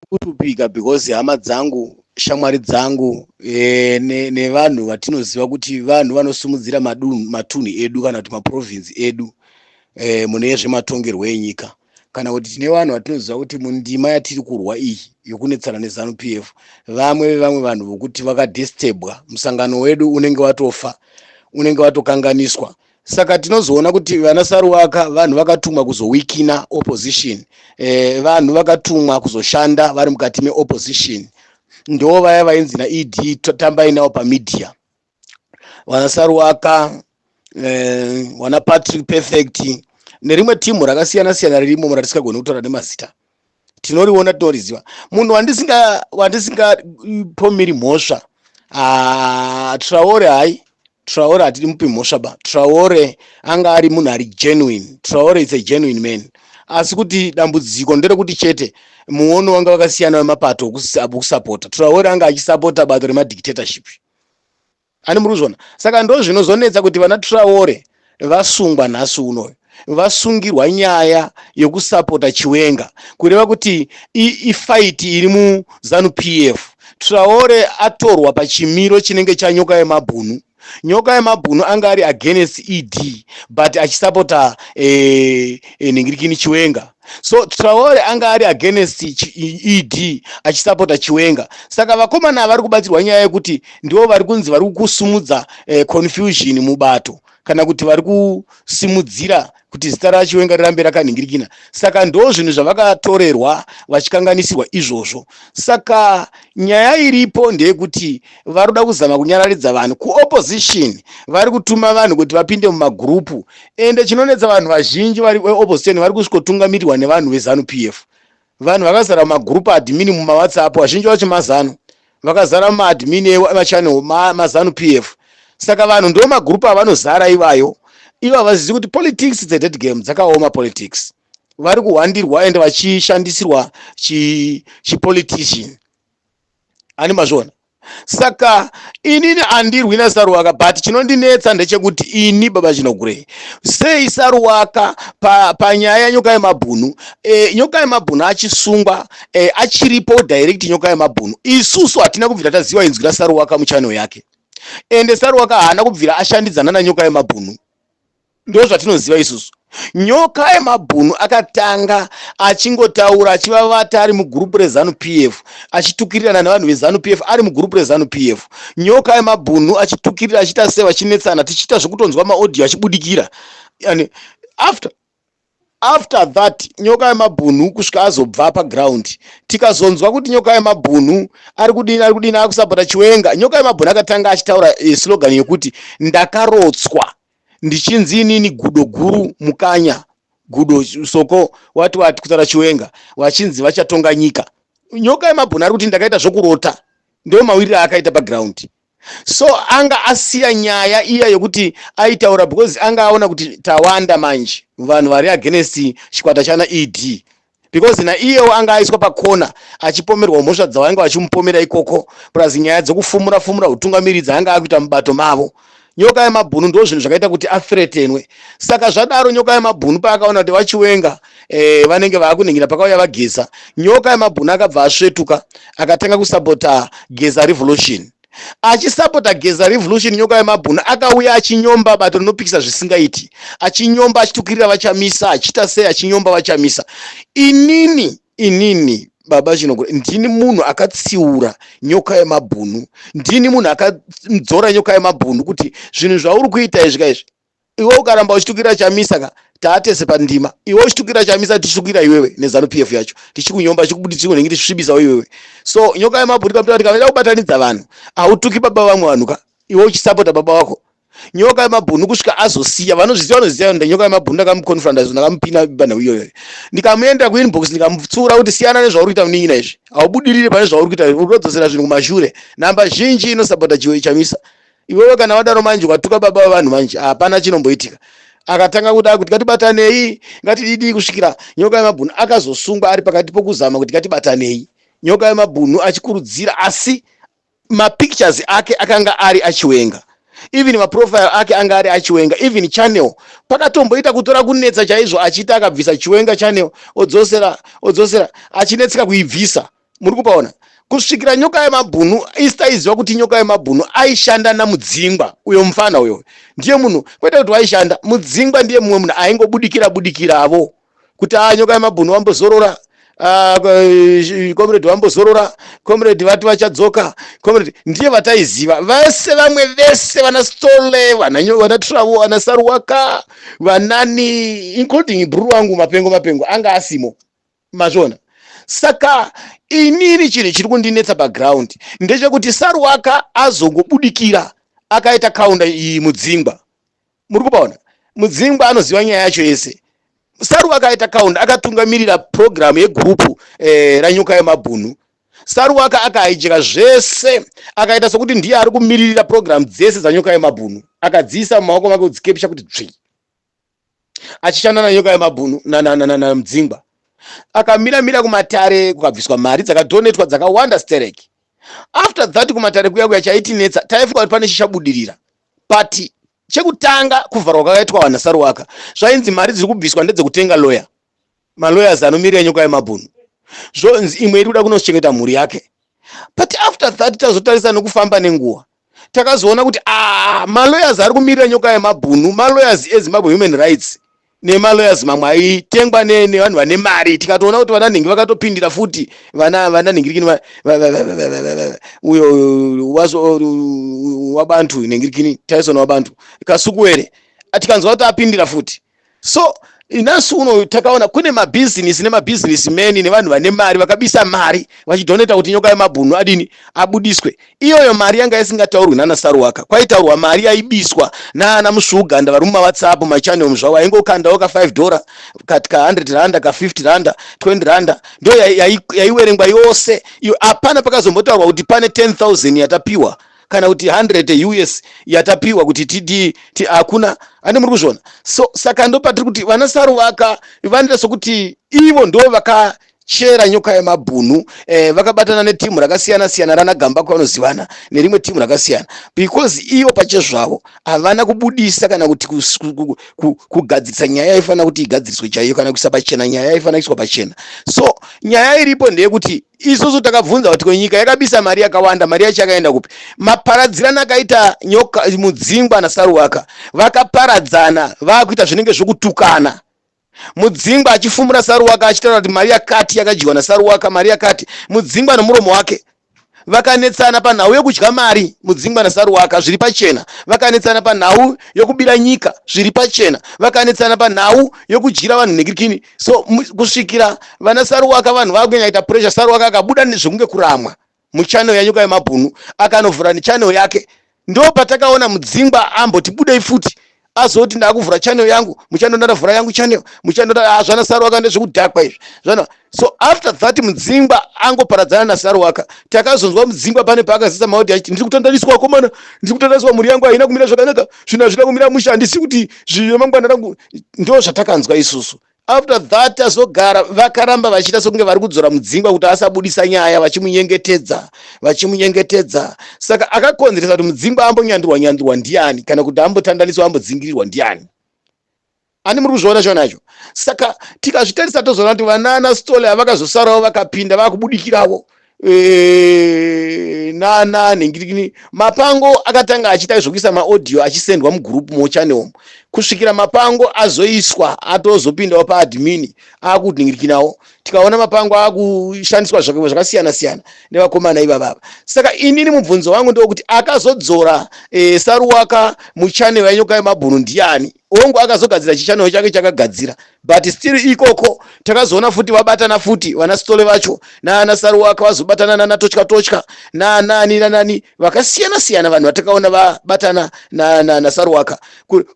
kushupika because hama dzangu shamwari dzangu e, ne, nevanhu vatinoziva kuti vanhu vanosimudzira matunhu edu kana kuti maprovinsi edu e, mune zvematongerwo enyika kana kuti tine vanhu vatinoziva kuti mundima yatiri kurwa iyi yokunetsana nezanu p f vamwe vevamwe vanhu vokuti vakadistebwa musangano wedu unenge watofa unenge watokanganiswa saka tinozoona kuti vana saruwaka vanhu vakatumwa kuzowikina opposition eh, vanhu vakatumwa kuzoshanda vari mukati meopposition ndo vaya vainzi naed tambai nawo pamedia vana saruwaka eh, vana patrick perfect nerimwe timu rakasiyana siyana ririmo muratisikagoni kutaura nemazita tinoriona tinoriziva munhu wandisingapomiri mhosva ah, traore hai traore hatidi mupi mhosva ba traore anga ari munhu ari genuine traore is a genuine man asi kuti dambudziko nderekuti chete muono wanga vakasiyana wemapato okusapota traore anga achisapota bato remadictatorship Ani muruzvona saka ndozvinozonetsa kuti vana Traore vasungwa nhasi unoyu vasungirwa nyaya yokusapota chiwenga kureva kuti ifaiti iri muzanu pf traore atorwa pachimiro chinenge chanyoka yemabhunu nyoka yemabhunu anga ari against ed but achisapota eh, eh, nhingirikini chiwenga so traore anga ari against ed achisapota chiwenga saka vakomana vari kubatsirwa nyaya yekuti ndivo vari kunzi vari kusumudza eh, confusion mubato kana kuti vari kusimudzira kuti zita rachiwenga rirambe rakanhingirikina saka ndo zvinhu zvavakatorerwa vachikanganisirwa izvozvo saka nyaya iripo ndeyekuti vari kuda kuzama kunyararidza vanhu kuopposition vari kutuma vanhu kuti vapinde mumagurupu ende chinonetsa vanhu vazhinji vari veopposition vari kusvikotungamirirwa nevanhu vezanu p f vanhu vakazara mumagurupu admini mumawhatsapp vazhinji vacho mazanu vakazara mumaadmini emachannel mazanu p f saka vanhu ndo magurupu avanozara ivayo ivo havazizi kuti politics its a dead game dzakaoma politics vari kuhwandirwa ende vachishandisirwa chipolitician chi ani mazviona saka inini andirwi nasaruwaka but chinondinetsa ndechekuti ini baba chinogurei sei saruwaka panyaya pa yanyoka yemabhunu e, nyoka yemabhunu achisungwa e, achiripo direct nyoka yemabhunu isusu hatina kubvira taziva inzwi rasaruwaka muchano yake ende saruwaka haana kubvira ashandidzana nanyoka yemabhunu ndozvatinoziva isusu nyoka yemabhunu akatanga achingotaura achivavata ari mugurupu rezanu p f achitukirirana nevanhu vezanu p f ari mugurupu rezanu p f nyoka yemabhunu achitukirira achiita se vachinetsana tichiita zvekutonzwa maaudio achibudikira and after After that nyoka yemabhunhu kusvika azobva paground tikazonzwa kuti nyoka yemabhunhu ari kudini ari kudini akusapota chiwenga nyoka yemabhunhu akatanga achitaura eh, slogan yekuti ndakarotswa ndichinzi inini gudo guru mukanya gudo soko wati wati kutaura chiwenga vachinzi vachatonga nyika nyoka yemabhunhu ari kuti ndakaita zvokurota ndomawiriro aakaita paground so anga asiya nyaya iya yekuti aitaura because anga aona kuti tawanda manje vanhu vari against chikwata chana ed because naiyewo anga aiswa pakona achipomerwa mhosva dzavainge vachimupomera ikoko plus nyaya dzekufumura fumura utungamiri dzaanga akuita mubato mavo nyoka yemabhunu ndo zvinhu zvakaita kuti athretenwe saka zvadaro nyoka yemabhunu paakaona kuti vachiwenga eh, vanenge vaakuningina pakauya vageza nyoka yamabhuna akabva asvetuka akatanga kusapota geza revolution achisapota geza revolution nyoka yemabhuna akauya achinyomba bato rinopikisa zvisingaiti achinyomba achitukirira vachamisa achiita sei achinyomba vachamisa inini inini baba chinogura ndini munhu akatsiura nyoka yemabhunu ndini munhu akadzora nyoka yemabhunu kuti zvinhu zvauri kuita izvi kaizvi iwe ukaramba uchitukira chamisa ka taatese pandima iwe uchitukira chamisa tichitukira iwewe nezanu p f yacho tichikunyomba tichikubuditsiko nenge tichisvibisawo iwewe so nyoka yemabhuri pamutaa tikavaida kubatanidza vanhu hautuki baba vamwe vanhu ka iwe uchisapota baba wako nyoka yemabhunu kusvika azosiya vanozviziva vanoziva nda nyoka yemabhunu ndakamuconfronta izvo ndakamupina bana iyoyo ndikamuenda kuinbox ndikamupfuura kuti siyana nezvauri kuita munin'ina izvi haubudirire pane zvauri kuita urodzosera zvinhu kumashure namba zhinji inosapota chiwe chamisa iwewe kana wadaro manje watuka baba wevanhu manje hapana chinomboitika akatanga kuda kuti ngatibatanei ngatididii kusvikira nyoka yemabhunu akazosungwa ari pakati pokuzama kuti ngatibatanei nyoka yemabhunu achikurudzira asi mapictures ake akanga ari achiwenga even maprofile ake anga ari achiwenga even channel pakatomboita kutora kunetsa chaizvo achiita akabvisa chiwenga channel odzosera odzosera achinetseka kuibvisa muri kupaona kusvikira nyoka yemabhunu isita aiziva kuti nyoka yemabhunu aishanda namudzingwa uyo mufana uyo ndiye munhu kwete kuti waishanda mudzingwa ndiye mumwe munhu aingobudikira budikiravo kuti a ah, nyoka yemabhunu wambozorora ah, eh, comrade vambozorora comrade vati vachadzoka comrade ndiye vataiziva vese vamwe vese vana stole vana travo vana saruwaka vanani including bruru wangu mapengo mapengo anga asimo mazviona saka inini chinhu chiri kundinetsa paground ndechekuti saruwaka azongobudikira akaita kaunda iyi mudzingwa muri kupaona mudzingwa anoziva nyaya yacho yese saruwa akaita kaunda akatungamirira purogiramu yegurupu eh, ranyuka yemabhunu saruwaka akahaijeka zvese akaita sokuti ndiye ari kumiririra purogiramu dzese dzanyuka yemabhunu akadziisa mumaoko make kudzikepisha kuti dzvii achishanda nanyoka yemabhunu namudzingwa akamira mira kumatare kukabviswa mari dzakadhonetwa dzakawanda stereki after that kumatare kuya kuya chaitinetsa taifunga kuti pane chichabudirira but chekutanga kuvharwa kwakaitwa vanasaruwaka zvainzi mari dziri kubviswa ndedzekutenga lawyer malawyers anomirira nyoka yemabhunu zvonzi imwe iri kuda kunochengeta mhuri yake but after that tazotarisa nekufamba nenguva takazoona kuti ah, malawyers ari kumirira nyoka yemabhunu malawyers ezimbabwe human rights nemalawyers mamwe aitengwa nevanhu vane mari tikatoona kuti vananhingi vakatopindira futi vananhingirikini uyo wabantu nhingirikini taisona wabantu kasukuwere tikanzwa kuti apindira futi so inasi uno takaona kune mabhizinisi nemabhizinisi meni nevanhu vane mari vakabisa mari vachidhoneta kuti nyoka yemabhunu adini abudiswe iyoyo mari yanga isingataurwi nana saruwaka kwaitaurwa mari yaibiswa naana musvuuganda vari mumawhatsapp machannel zvavo aingokandawo ka 5 dora ka 100 randa ka 50 randa 20 randa ndo yaiwerengwa yose iyo hapana pakazombotaurwa kuti pane 10000 yatapiwa kana kuti 100 yeus yatapiwa kuti tidii ti hakuna ane muri kuzviona so saka ndopatiri kuti vana saruvaka vanoita sokuti ivo ndo vaka chera nyoka yemabhunu eh, vakabatana netimu rakasiyana siyana rana gamba kwavanozivana nerimwe timu rakasiyana because ivo pachezvavo havana kubudisa kana kuti kugadzirisa nyaya yaifanira kuti igadziriswe chaiyo kana kuisa pachena nyaya yaifanira kuiswa pachena so nyaya iripo ndeyekuti isusu takabvunza kuti ko nyika yakabisa mari yakawanda mari yacho yakaenda kupi maparadzirana akaita nyoka mudzingwa nasaruwaka vakaparadzana vakuita zvinenge zvokutukana mudzingwa achifumura saruwaka achitaura kuti mari yakati yakadyiwa nasaruwaka mari yakati mudzingwa nomuromo wake vakanetsana panhau yokudya mari mudzingwa nasaruwaka zviri pachena vakanetsana panhau yokubira nyika zviri pachena vakanetsana panhau yokudyira vanhu nhekirikini so kusvikira vana saruwaka vanhu vakunyanyaita pressure saruwaka akabuda nezvekunge kuramwa muchannel yanyuka yemabhunu akanovhura nechannel yake ndo patakaona mudzingwa amboti budei futi azoti ndakuvhura channel yangu muchando ndandavhura yangu channel muchando hazvana ah, saruwaka ndezvekudhakwa izvi zvana so after that mudzingwa angoparadzana nasaruwaka takazonzwa mudzingwa pane paakazisa maodi achiti ndiri kutandaniswa komana ndiri kutandaniswa mhuri yangu haina kumira zvakanaka zvinhu hazvina kumira mushe handisi kuti zvinemangwana rangu ndo zvatakanzwa isusu after that azogara vakaramba vachiita sokunge vari kudzora mudzingwa kuti asabudisa nyaya vachimunyengetedza vachimunyengetedza saka akakonzeresa kuti mudzingwa ambonyandirwa nyandirwa ndiani kana kuti ambotandaniswa ambodzingirirwa ndiani ani muri kuzviona chona icho saka tikazvitarisa tozoona kuti vanana stole avakazosarawo vakapinda vakubudikiravo eh, nana nhingirikini mapango akatanga achiita zvokuisa maaudio achisendwa mugroup mochannel kusvikira mapango azoiswa atozopindawo paadmini akutinhingirikinawo tikaona mapango akushandiswa zvakaiwa zvakasiyana siyana nevakomana ivavava saka inini mubvunzo wangu ndewokuti akazodzora e, saruwaka muchanel yanyoka yemabhunu ndiani hongu akazogadzira chichannel chake chakagadzira but still ikoko takazoona futi vabatana futi vana stole vacho naana saruwaka vazobatana nana totya totya nanani nanani vakasiyana siyana vanhu vatakaona vabatana nana saruwaka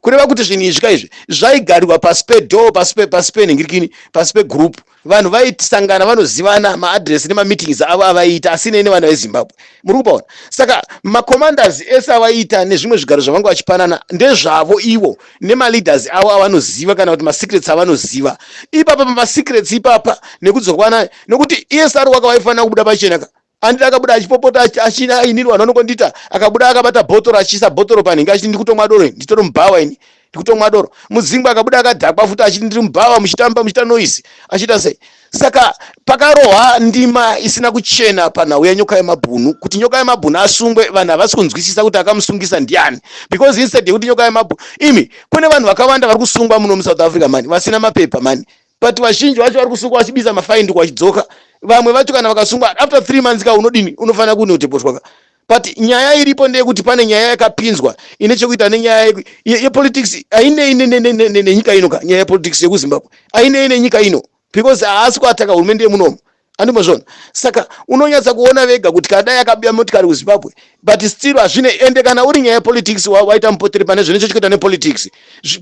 kureva kuti zvinhu izvi ka izvi zvaigarirwa pasi pedoor pasi penhingirikini pasi pegroup vanhu vaisangana vanozivana maadress nemameetings avo avaiita asinei nevana vezimbabwe muri kupaona saka macommanders ese avaiita nezvimwe zvigaro zvavanga vachipanana ndezvavo ivo nemaleaders avo avanoziva kana kuti masecrets avanoziva ipapa pamasecrets ipapa nekudzokwana nekuti esr waka vaifanira kubuda pachenaka Andile akabuda achipopota achina ainirwa nonokondita akabuda akabata bhotoro achiisa bhotoro panhingi achiti ndikutomwa doro nditori mubhawa ini ndikutomwa doro mudzingwa akabuda akadhakwa futi achiti ndiri mubhawa muchitamba muchita noise achiita sei saka pakarohwa ndima isina kuchena panhau yenyoka yemabhunu kuti nyoka yemabhunu asungwe vanhu havasi kunzwisisa kuti akamusungisa ndiani because instead yekuti nyoka yemabhunu imi kune vanhu vakawanda vari kusungwa muno musouth africa mani vasina mapepa mani but vazhinji vacho vari kusungwa vachibisa mafaindi kwachidzoka vamwe vacho kana vakasungwa after three months ka unodini unofanira kunoteposhwa ka but nyaya iripo ndeyekuti pane nyaya yakapinzwa ine chekuita nenyaya yepolitics ainei nenyika ino ka nyaya yepolitics yekuzimbabwe ainei nenyika ino because haasi kuataka hurumende yemunomu andimozvona saka unonyatsa kuona vega kuti kana dai akabiya motikari kuzimbabwe but still hazvine ende kana uri nyaya yepolitics waita mupoteri pane zvine chochikuita nepolitics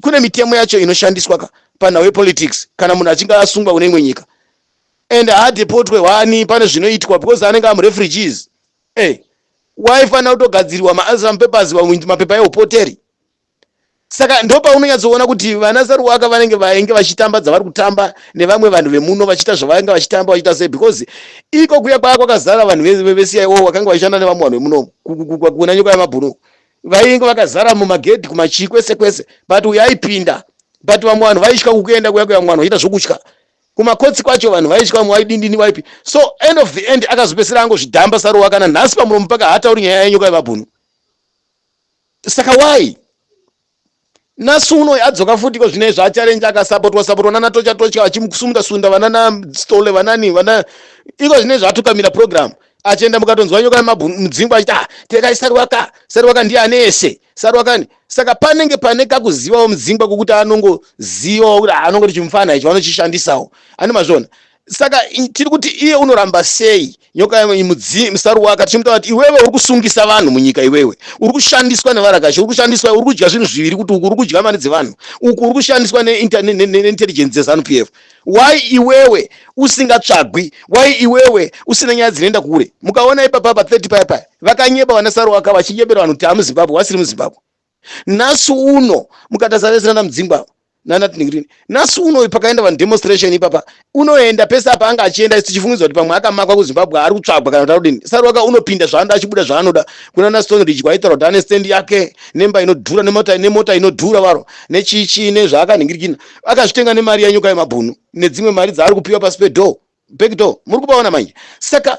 kune mitemo yacho inoshandiswa ka panhau yepolitics kana munhu achinge asungwa kune imwe nyika and haadepotwe wani pane zvinoitwa because anenge amurefugees e eh, waifanira kutogadzirirwa maasylum papers mapepa eupoteri saka ndo paunonyatsoona kuti vana saruwaka vanenge vainge vachitamba dzavari kutamba nevamwe vanhu vemuno vachiita zvavainge vachitamba vachiita sei because iko kuya kwaa kwakazara vanhu vecia wo vakanga vachishanda nevamwe vanhu vemuno kuna nyoko yamabhunu vainge vakazara mumagedhi kumachii kwese kwese but uyo aipinda but vamwe vanhu vaitya kukuenda kuya kuya vamwe vanhu vachiita zvokutya kumakotsi kwacho vanhu vaitya vamwe vaidindini vaipi so end of the end akazopesera angozvidhamba saruwaka nanhasi pamuromo paka hatauri nyaya yenyoko yamabhunu saka why nasu uno adzoka futi ko zvine zvaacharenja akasapotwa sapotwa nana tocha tocha vachimusunda sunda vanana stole vanani vana iko zvine zvaatukamira program achienda mukatonzwa nyoka yemabmudzingwa achiti ah tekai sarwaka sarwaka ndiye ane ese sarwakani saka panenge pane kakuzivawo mudzingwa kokuti anongozivawo kuti ah, anongoti chimufana icho vanochishandisawo ani mazvona saka tiri kuti iye unoramba sei nyoka mudzi musaru waka tichimuta kuti iwewe uri kusungisa vanhu munyika iwewe uri kushandiswa nevarakashi uri kushandiswa uri kudya zvinhu zviviri kuti uku uri kudya mari dzevanhu uku uri kushandiswa neintelligence dzezanu p f why iwewe usingatsvagwi why iwewe usina nyaya dzinoenda kure mukaona ipapapa 30 paya paya vakanyeba vanasaru waka vachinyebera vanhu kuti amuzimbabwe wasiri muzimbabwe nhasi uno mukatasa vese nana mudzingwa nanatnigrin nhasi uno uyu pakaenda vanhu demonstration ipapa unoenda pese apa anga achienda isu tichifungidzwa kuti pamwe akamakwa kuzimbabwe ari kutsvagwa kana kuti arudini sarwaka unopinda zvaanoda achibuda zvaanoda kuna naston ridge kwaitaura kuti ane stendi yake nemba inodhura nemota nemota inodhura varo nechichii nezvaakanhingirikina akazvitenga nemari yenyuka yemabhunu nedzimwe mari dzaari kupiwa pasi pedoor back door muri kupaona manje saka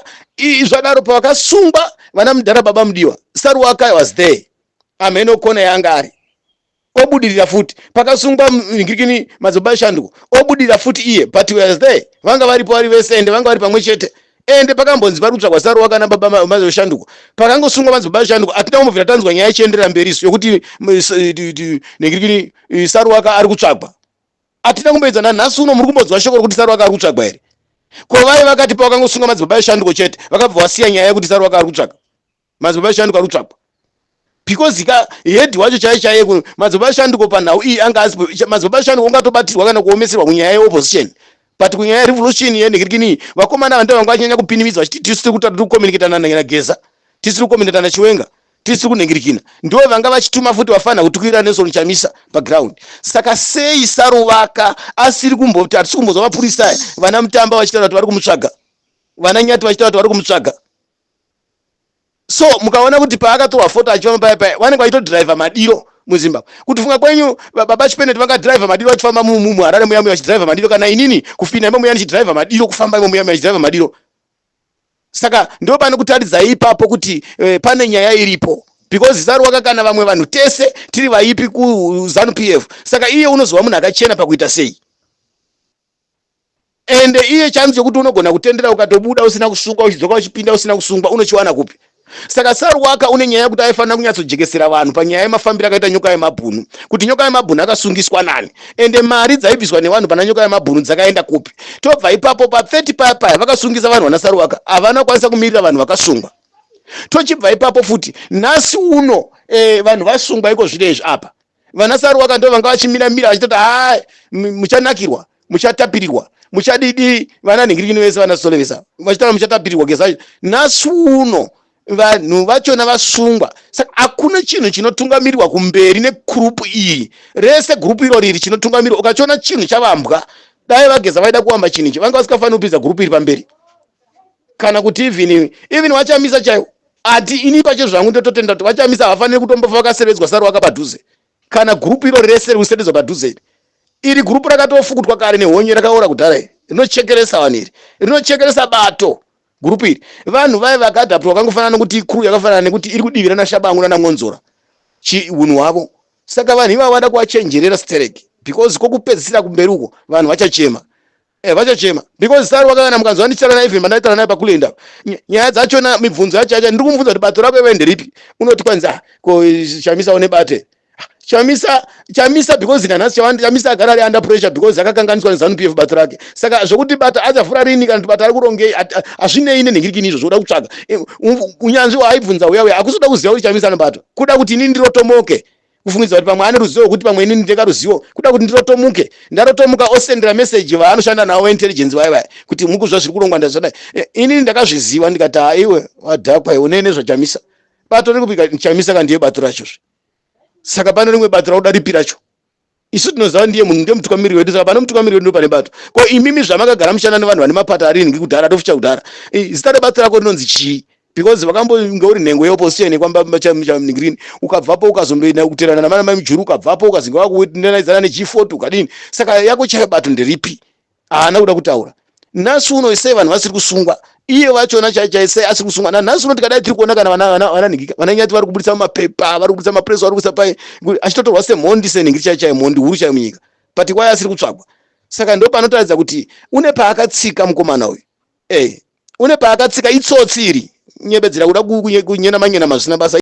zvadaro pavakasungwa vana mudhara baba mudiwa saruwaka was there amheno kona yaanga ari obudirira futi pakasungwa ngirikini madzoba shanduko obudirira futi iye but was there vanga varipo vari vese ende vanga vari pamwe chete ende pakambonzi pari kutsvagwa saruwa kana baba mazoshanduko pakangosungwa madzibaba shanduko hatina kumbobvira tanzwa nyaya ichienderera mberi isu yokuti nengirikini saruwaka ari kutsvagwa atina kumboedza nanhasi uno muri kumbonzwa shoko rokuti saru akaari kutsvagwa here ko vaye vakati pawakangosunga madzibaba eshanduko chete vakabva wasiya nyaya yekuti saru akaari kutsvaga madzibaba eshanduko ari kutsvagwa because ka head wacho chaiye chaiye kuno madzibaba eshanduko panhau iyi anga asipo madzibaba eshanduko ungatobatirwa kana kuomeserwa kunyaya yeopposition but kunyaya revolution yenhikirikini vakomana vanda vanga vanyanya kupinimidza vachiti tisu tiri kutati tiri kucommunicatana nageza tisu tiri kucommunicatana chiwenga tisi kunhingirikina ndivo vanga vachituma futi vafanira kutukwira nelson chamisa paground saka sei saruvaka asiri kumboti hatisi kumbozwa mapurisa aya vana mutamba vachitaura kuti vari kumutsvaga vana nyati vachitaura kuti vari kumutsvaga so mukaona kuti paakatorwa foto achifamba paya paya vanenge vachitodriva madiro muzimbabwe kuti funga kwenyu baba chipeneti vangadriva madiro vachifamba muharare muya muya vachidriva madiro kana inini kufina imo muya ndichidriva madiro kufamba imo muya muya ndichidriva madiro saka ndo pane kutaridzai ipapo kuti eh, pane nyaya iripo because zita rwaka kana vamwe vanhu tese tiri vaipi kuzanu p f saka iye unozova munhu akachena pakuita sei ende iye chanzi chokuti unogona kutendera ukatobuda usina kusungwa uchidzoka uchipinda usina kusungwa unochiwana kupi Saka Saruwaka une nyaya yekuti aifanira kunyatsojekesera vanhu panyaya yemafambiro akaita nyoka yemabhunu kuti nyoka yemabhunu akasungiswa nani ende mari dzaibviswa nevanhu pana nyoka yemabhunu dzakaenda kupi tobva ipapo pa 30 paya paya vakasungisa vanhu vana Saruwaka havana kukwanisa kumirira vanhu vakasungwa tochibva ipapo futi nhasi uno eh, vanhu vasungwa iko zvino izvi apa vana saruwaka ndo vanga vachimira mira vachitoti ha muchanakirwa muchatapirirwa muchadidi vana nhingirikini vese vana solevesa vachitaura muchatapirirwa gesa nhasi uno vanhu vachona vasungwa saka hakuna chinhu chinotungamirirwa kumberi negrupu iyi rese grupu iro riri chinotungamirirwa ukachiona chinhu chavambwa dai vageza vaida kuwamba chinhu ichi vanga vasikafaniri kupinza grupu iri pamberi kana kuti even iwe even vachamisa chaiwo ati ini pache zvangu ndototenda kuti vachamisa havafaniri kutombofa vakasevedzwa sari waka padhuze kana gurupu iro rese riri kusevedzwa padhuze iri iri gurupu rakatofukutwa kare nehonye rakaora kudhara iri rinochekeresa vanhu iri rinochekeresa bato gurupu iri vanhu vaye vakadhapwa vakangofanana nokuti ikuru yakafanana nekuti iri kudivirana shabangu nanamwonzora chiunhu hwavo saka vanhu ivavo vada kuvachenjerera stereki because kokupedzisira kumberi uko vanhu vachachema Eh, vachachema because sari wakayana mukanzwa ndichitaura naye even pandaitaura naye pakulenda nyaya dzachona mibvunzo yacho yacho ndiri kumubvunza kuti bato rako iwe nderipi unoti kwanzi ah ko chamisa une bate ah, chamisa chamisa because nanhasi chawandi chamisa agara ari under pressure because akakanganiswa nezanu p f bato rake saka zvokuti bata achavhura rini kana kuti bata ari kurongei hazvinei nenhingirikini izvo zvokuda kutsvaga eh, unyanzvi waaibvunza uya uya hakusi kuda kuziva kuti chamisa anobatwa kuda kuti inini ndirotomoke kufungidzira kuti pamwe ane ruzivo rwekuti pamwe inini ndeka ruzivo kuda kuti ndirotomuke ndarotomuka osendera meseji vaanoshanda navo veintelligence vaya vaya kuti mukuzva zviri kurongwa ndazvadai eh, inini ndakazviziva ndikati haiwe wadhakwa iwe unei nezvachamisa bato riri kupika chamisa ka ndiye bato racho zve saka pane rimwe bato rakuda ripi racho isu tinoziva ndiye munhu ndiye mutungamiri wedu saka pane mutungamiri wedu ndopane bato ko imimi zvamakagara mushanda nevanhu vane mapata aringi kudhara tofucha kudhara zita rebato rako rinonzi chii because vakambonge uri nhengo yeopposition yekwambamba chamni green ukabvapo ukazondoenda kuterana namana mai mujuru ukabvapo ukazinge wakuendanaidzana nechifoti ukadini saka yako chayo bato nderipi haana kuda kutaura nhasi uno sei vanhu vasiri kusungwa iye vachona chaichaisei asiri kusungwa nanhasi uno tikadai tiri kuona kana vananhingika vananyati vari kuburitsa mumapepa vari kuburitsa mapress vari kuisa pai achitotorwa semhondi senhingiri chaichayo mhondi huru chayo munyika but kwaye asiri kutsvagwa saka ndo panotaridza kuti une paakatsika mukomana uyu Hey, une paakatsika itsotsi iri. Nyebedzera kuda kunyenama nyenama zvisina basa.